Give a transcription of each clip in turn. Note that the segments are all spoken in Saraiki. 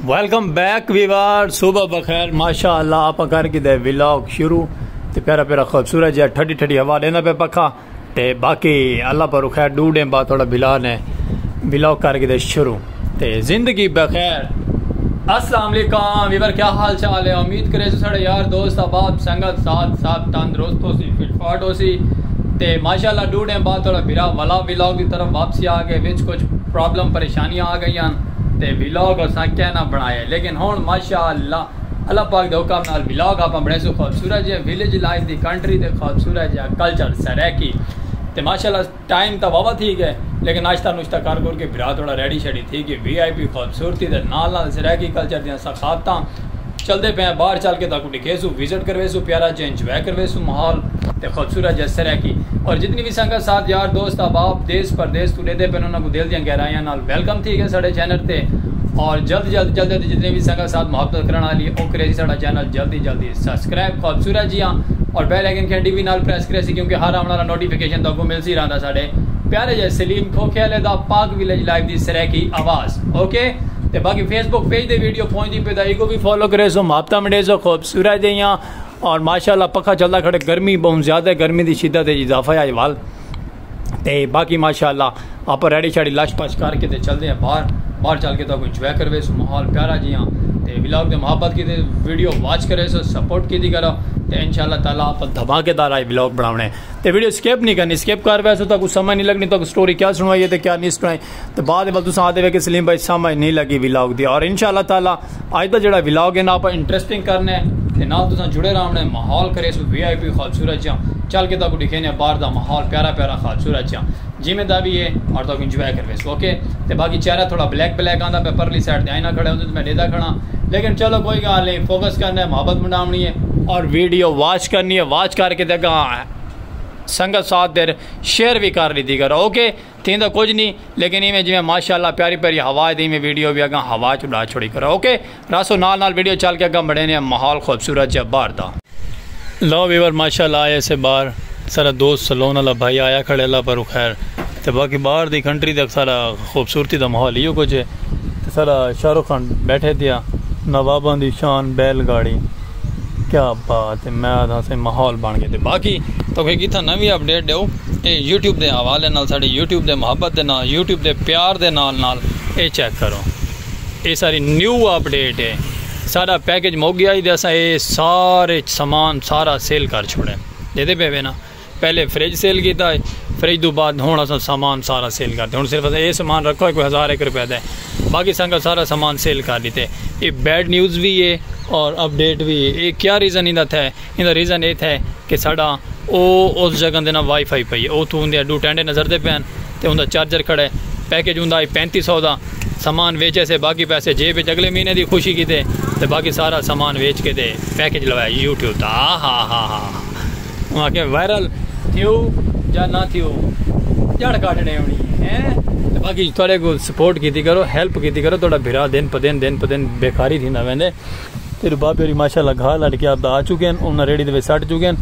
ویلکم بیک ویوار صبح بخیر ماشاء اللہ آپ کر کے دے ولاگ شروع تے پیرا پیرا خوبصورت جہاں ٹھڈی ٹھڈی ہوا دینا پہ پکا تے باقی اللہ پر خیر ڈو ڈیم بعد تھوڑا بلا نے ولاگ کر کے دے شروع تے زندگی بخیر السلام علیکم ویور کیا حال چال ہے امید کرے سو سڑے یار دوست احباب سنگت ساتھ ساتھ تندرست ہو سی فٹ فاٹ ہو سی تے ماشاءاللہ ڈو ڈیم بعد تھوڑا بھرا ولا ویلاگ دی طرف واپسی آ گئے وچ کچھ پرابلم پریشانیاں آ گئیاں تے ویلاگ اساں کہہ نہ بنڑایا لیکن ہنڑ ماشاء اللہ اللہ پاک دے حکم نال ویلاگ آپاں بنڑیسوں خوبصورت جیہے ویلیج لائف دی کنٹری تے خوبصورت جیہا کلچر سرائیکی تے ماشاء اللہ ٹائم تاں واوا تھی گئے لیکن ناشتہ نوشتہ کر کر کے بھرا تھوڑا ریڈی شیڈی تھی گئے وی آئی پی خوبصورتی دے نال نال سرائیکی کلچر دیاں ثقافتاں چلدے پئے ہیں باہر چل کے تاکوں ڈکھے سوں وزٹ کروے سوں پیارا جے انجوائے کروے سوں ماحول تے خوبصورت جے سرائیکی اور جتنی وی سنگت ساتھ یار دوست احباب دیس پردیس توں ڈیدھے پئے ہن انہاں کوں دل دیاں گہرائیاں نال ویلکم تھی گئے ساڈے چینل تے اور جلد جلد جلدے تے جتنی وی سنگت ساتھ محبت کرن والی او کریسی ساڈا چینل جلدی جلدی سبسکرائب خوبصورت جیاں اور بیل آئیکن گھنٹی وی نال پریس کریسی کیونکہ ہر آون والا نوٹیفکیشن تاکوں ملسی رہندا ساڈے پیارے جے سلیم کھوکھے آلے دا پاک ویلیج لائیو دی سرائیکی آواز۔ اوکے تے باقی فیس بک پیج دے ویڈیو پہنچ دی پہ دا ایگو بھی فالو کرے سو مابتا مڑے سو خوبصورت دے یہاں اور ماشاءاللہ پکھا چلدا کھڑے گرمی بہت زیادہ ہے گرمی دی شدت ہے اضافہ ہے وال تے باقی ماشاءاللہ آپ ریڈی شاڑی لش پش کر کے تے چل دے ہیں باہر باہر چل کے تو کوئی انجوائے کروے سو ماحول پیارا جی ہاں تے ولاگ دے محبت کی تے ویڈیو واچ کرے سو سپورٹ کی دی کرو تے انشاءاللہ تعالی آپ دھماکے دار آئی ولاگ بناونے تے ویڈیو سکیپ نہیں کرنی سکیپ کر ویسے تو کوئی سمجھ نہیں لگنی تو کوئی سٹوری کیا سنوائی ہے تے کیا نہیں سنوائی تے بعد ول تساں آدے وے کہ سلیم بھائی سمجھ نہیں لگی ولاگ دی اور انشاءاللہ تعالی اج دا جڑا ولاگ ہے نا اپا انٹرسٹنگ کرنے تے نال تساں جڑے راونے ماحول کرے سو وی آئی پی خالصورت جاں چل کے تاکو دکھینے باہر دا ماحول پیارا پیارا خالصورت جاں جیویں دا وی ہے اور تاکو انجوائے کروے سو اوکے تے باقی چہرہ تھوڑا بلیک بلیک آندا پہ پرلی سائیڈ تے آئینہ کھڑے ہوندے تے میں ڈیدا کھڑا لیکن چلو کوئی گال نہیں فوکس کرنے محبت منڈاونی ہے اور ویڈیو واچ کرنی ہے واچ کر کے تے گاں سنگت ساتھ دیر شیئر بھی کر لیتی کرو اوکے تھیندا کجھ نی لیکن ایویں جیویں ماشاءاللہ پیاری پیاری ہوا ہے تے ایویں ویڈیو وی اگاں ہوا اچ اڈا چھوڑی کرو اوکے راسو نال نال ویڈیو چل کے اگاں بڑھینے آں ماحول خوبصورت جیہا باہر دا۔ لو ویور ماشاءاللہ آئے اسے باہر سارا دوست سلون آلا بھائی آیا کھڑے اللہ پروں خیر تے باقی باہر دی کنٹری دا سارا خوبصورتی دا ماحول ایہو کجھ ہے تے سارا شاہ رخ خان بیٹھے تھیا نواباں دی شان بیل گاڑی۔ کیا بات ہے میں آدھا سے ماحول بن گئے باقی تو کہ کتھا نوی اپڈیٹ دیو اے یوٹیوب دے حوالے نال ساڑے یوٹیوب دے محبت دے نال یوٹیوب دے پیار دے نال نال اے چیک کرو اے ساری نیو اپڈیٹ ہے ساڑا پیکج مک گیا ہی دے اسا اے سارے سامان سارا سیل کر چھوڑے دیدے پہ وینا پہلے فریج سیل کیتا ہے فریج دو بعد ہن اساں سامان سارا سیل کرتے ہن صرف اساں اے سامان رکھا ہے کوئی ہزار ایک روپے دا ہے باقی سانگا سارا سامان سیل کر ڈیتا ہے اے بیڈ نیوز وی ہے اور اپ ڈیٹ وی ہے اے کیا ریزن ایندا تھا ہے ایندا ریزن اے تھا ہے کہ ساڈا او اس جگہ دے نا وائی فائی پئی ہے او تھو ہوندے ڈو ٹینڈے نظر دے پین تے ہوندا چارجر کھڑا ہے پیکج ہوندا ہے پینتی سو دا سامان ویچ ایسے باقی پیسے جیب وچ اگلے مہینے دی خوشی کیتے تے باقی سارا سامان ویچ کے تے پیکج لوایا یوٹیوب دا آہا آہا آہا آہا انہاں آکھیا وائرل تھیو یا نہ تھیو جڑ کاٹنے ہونی ہیں تے باقی تہاڈے کو سپورٹ کیتی کرو ہیلپ کیتی کرو تہاڈا بھرا دن پہ دن دن پہ دن بیکاری تھیندا ویندے تیڈو بابے ہوری ماشاءاللہ گھا لڈ کے آپدا آ چکے ہن انہاں ریڑھی دے وچ سٹ چکے ہن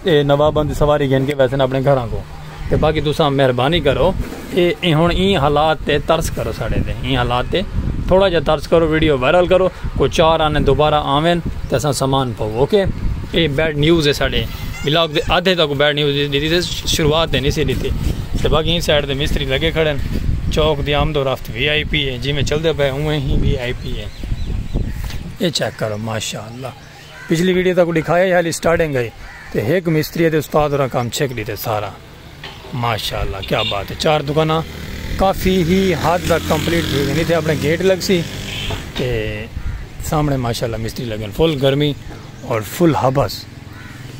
اے نواباں دی سواری گھن کے ویسن اپنے گھراں کو۔ تے باقی تساں مہربانی کرو اے ایں ہن ایں حالات تے ترس کرو ساڑے تے ایں حالات تے تھوڑا جیہا ترس کرو ویڈیو وائرل کرو کوئی چار آنے دوبارہ آون تے اساں سامان پاؤ اوکے اے بیڈ نیوز ہے ساڑے بلاگ دے آدھے تک بیڈ نیوز ڈیتی سے شروعات تے نہیں سی ڈیتی تے باقی ایں سائیڈ تے مستری لگے کھڑے چوک دی آمد و رفت وی آئی پی ہے جی میں چلدے پے اوں ہی وی آئی پی ہے اے چیک کرو ماشاءاللہ پچھلی ویڈیو تاکوں ڈکھایا ہی حالی سٹارٹنگ ہئی تے ہک مستری تے استاد ہوراں کم چھک ڈیتے سارا ماشاءاللہ کیا بات ہے چار دکاناں کافی ہی حد تک کمپلیٹ تھی گئی تھے اپنے گیٹ لگ سی تے سامنے ماشاءاللہ مستری لگن فل گرمی اور فل ہبس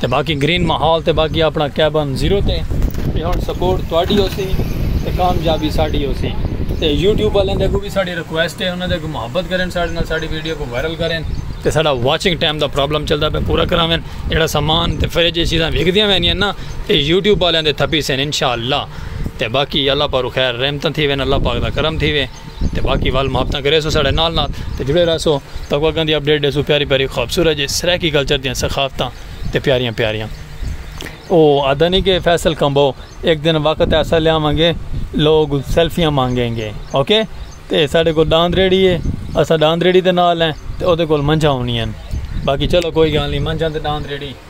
تے باقی گرین ماحول تے باقی اپنا کیبن زیرو تے تے ہن سپورٹ تواڈی ہوسی تے کامیابی ساڈی ہوسی تے یوٹیوب والے دے کو بھی ساڈی ریکویسٹ ہے انہاں دے کو محبت کرن ساڈے نال ساڈی ویڈیو کو وائرل کرن تے ساڈا واچنگ ٹائم دا پرابلم چلدا پہ پورا کراون جڑا سامان تے فریج چیزاں وکدیاں وینیاں نا تے یوٹیوب والے دے تھپی سن انشاءاللہ تے باقی اللہ پارو خیر رحمتاں تھی وین اللہ پاک دا کرم تھی وے تے باقی ول محبتاں کریسو ساڑے نال نال تے جڑے رہسو تاکو اگاں دی اپڈیٹ ڈیسو پیاری پیاری خوبصورت جے سرائیکی کلچر دیاں ثقافتاں تے پیاریاں پیاریاں او آدھا نہیں کہ فیصل کمبو ایک دن وقت ایسا لے آواں گے لوگ سیلفیاں مانگیں گے اوکے تے ساڑے کو ڈاند ریڑی ہے اسا ڈاند ریڑی دے نال ہیں تے او دے کول منجھا ہونی ہیں باقی چلو کوئی گال نہیں منجھا تے ڈاند ریڑی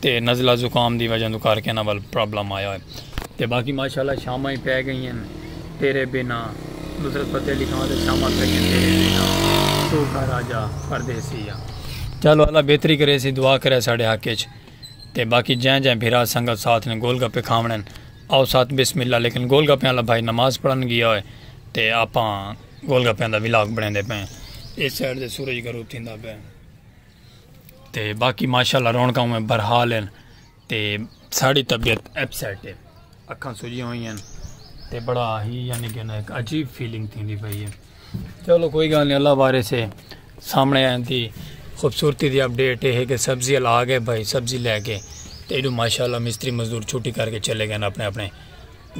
تے نزلہ زکام دی وجہ توں کر کے انہاں ول پرابلم آیا ہوئے تے باقی ماشاءاللہ شاماں ہی پے گئی ہیں تیرے بنا نصرت فتح علی خان تے شاماں پے گئی تیرے بنا تو گھر آ جا پردیسی یا چلو اللہ بہتری کرے سی دعا کرے ساڑے حق اچ تے باقی جائیں جائیں بھرا سنگت ساتھ نے گول گپے کھاونے آؤ ساتھ بسم اللہ لیکن گول گپے والا بھائی نماز پڑھن گیا ہوئے تے آپاں گول گپے دا ولاگ بنے دے پیں اس سائڈ دے سورج گروپ تھیندا پے تے باقی ماشاءاللہ رونکاں میں برحال ہیں تے ساڑی طبیعت اپ سیٹ ہے اکھاں سجی ہوئی ہیں تے بڑا ہی یعنی کہ ایک عجیب فیلنگ تھی دی پئی ہے چلو کوئی گل نہیں اللہ بارے سے سامنے آئیں تھی خوبصورتی دی اپڈیٹ ہے کہ سبزی لا گئے بھائی سبزی لے کے تے ایڈو ماشاءاللہ مستری مزدور چھٹی کر کے چلے گئے اپنے اپنے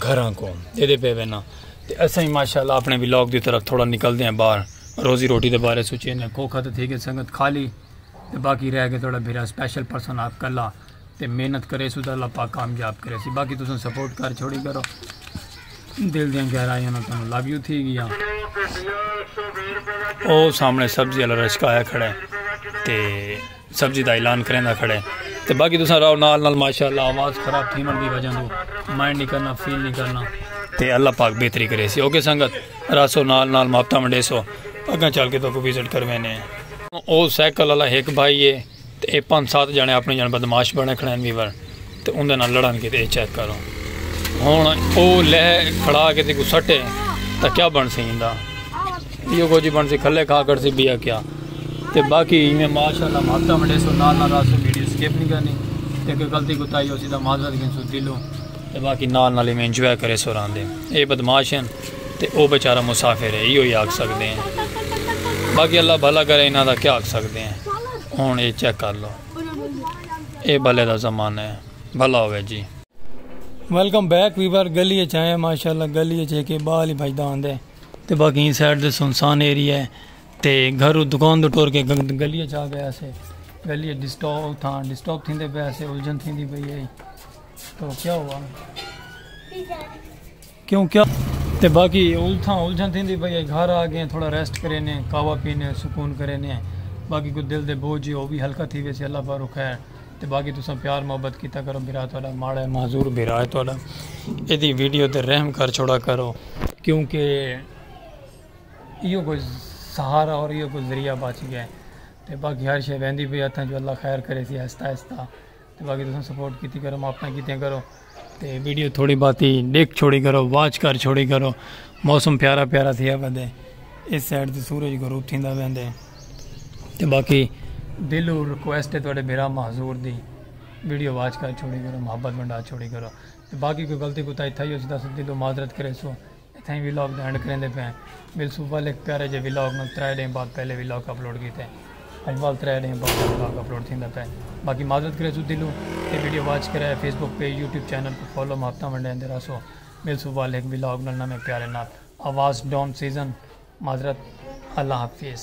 گھراں کو دیدے پے وینا تے اساں ہی ماشاءاللہ اپنے ولاگ دی طرف تھوڑا نکل دے ہیں باہر روزی روٹی دے بارے سوچے ہیں کو کھا تے تھی گئے سنگت خالی تے باقی رہ گئے تھوڑا بھیرا سپیشل پرسن آپ کلا تے محنت کرے سو تے اللہ پاک کامیاب کرے سی باقی تساں سپورٹ کر چھوڑی کرو دل دیاں گہرائیاں نہ تانوں لو یو تھی گیا او سامنے سبزی والا رشکہ آیا کھڑا ہے تے سبزی دا اعلان کریندا کھڑے تے باقی تساں راو نال نال ماشاءاللہ آواز خراب تھی من دی وجہ دو مائنڈ نہیں کرنا فیل نہیں کرنا تے اللہ پاک بہتری کرے سی اوکے سنگت راسو نال نال ماپتا منڈے سو اگاں چل کے تو کو وزٹ کروے نے او سائیکل اللہ ایک بھائی ہے تے اے پانچ سات جانے اپنے جان بدماش بنے کھڑے ہیں ویور تے اوندے نال لڑن کیتے اے چیک کرو ہن او لہ کھڑا کے تیکو سٹے تاں کیا بنسی ایندا ایو کچھ بنسی کھلے کھا کر سی بیا کیا تے باقی ایویں ماشاءاللہ ماتا منڈے سو نال نال راسو ویڈیو سکپ نہیں کرنی تے کوئی غلطی کو تائی ہو سی دا معذرت گن سو دلو تے باقی نال نال ایویں انجوائے کرے سو ران دے اے بدماش ہیں تے او بیچارہ مسافر ہے ایو ہی آگ سکتے ہیں باقی اللہ بھلا کرے انہاں دا کیا آگ سکتے ہیں ہون اے چیک کر لو اے بھلے دا زمانہ ہے بھلا ہوئے جی ویلکم بیک ویور گلی اچ آئے ماشاءاللہ گلی اچ ایک بال ہی بھجدا ہوندے تے باقی این سائیڈ دے سنسان ایریا ہے تے گھر دکان دے ٹور کے گلی اچ آ گیا سے گلی اچ ڈسٹاپ تھا ڈسٹاپ تھیندے پیا سے الجھن تھیندی پئی ہے تو کیا ہوا کیوں کیا تے باقی التھاں الجھن تھیندی پئی اے گھر آ گئے تھوڑا ریسٹ کرینے قہوہ پینے سکون کرینے باقی کوئی دل دے بوجھ جے او وی ہلکا تھی ویسے اللہ پاروں خیر تے باقی تساں پیار محبت کیتا کرو بھرا تہاڈا ماڑا اے معذور بھرا اے تہاڈا ایدی ویڈیو تے رحم کر چھوڑا کرو کیوں کہ ایہو کوئی سہارا اور ایہو کوئی ذریعہ بچ گئے تے باقی ہر شے ویندی پئی ہتھاں جو اللہ خیر کریسی آہستہ آہستہ۔ تے باقی تساں سپورٹ کیتی کرو ماں اپنا کیتے کرو تے ویڈیو تھوڑی باتی ڈیکھ چھوڑی کرو واچ کر چھوڑی کرو موسم پیارا پیارا تھیا بندے اس سائڈ تے سورج غروب تھیندا ویندے تے باقی دل اور ریکویسٹ ہے تھوڑے بھرا محضور دی ویڈیو واچ کر چھوڑی کرو محبت ونڈا چھوڑی کرو تے باقی کوئی غلطی کوتا ہی تھا ہی اس دا دل و معذرت کرے سو تھیں ویلاگ دا اینڈ کریندے پئے ہیں مل سو ول ہک پیارے جے ویلاگ نال ترے ڈینھ بعد پہلے ویلاگ اپلوڈ کیتے اج ول ترے ڈینھ بعد ویلاگ اپلوڈ تھیندا پئے باقی معذرت کرے سو دلوں تے ویڈیو واچ کرے Facebook page YouTube channel کوں فالو محبتاں ونڈیندے رہسو مل سو ول ہک ویلاگ نال نویں پیارے نال آواز ڈون سیزن معذرت اللہ حافظ۔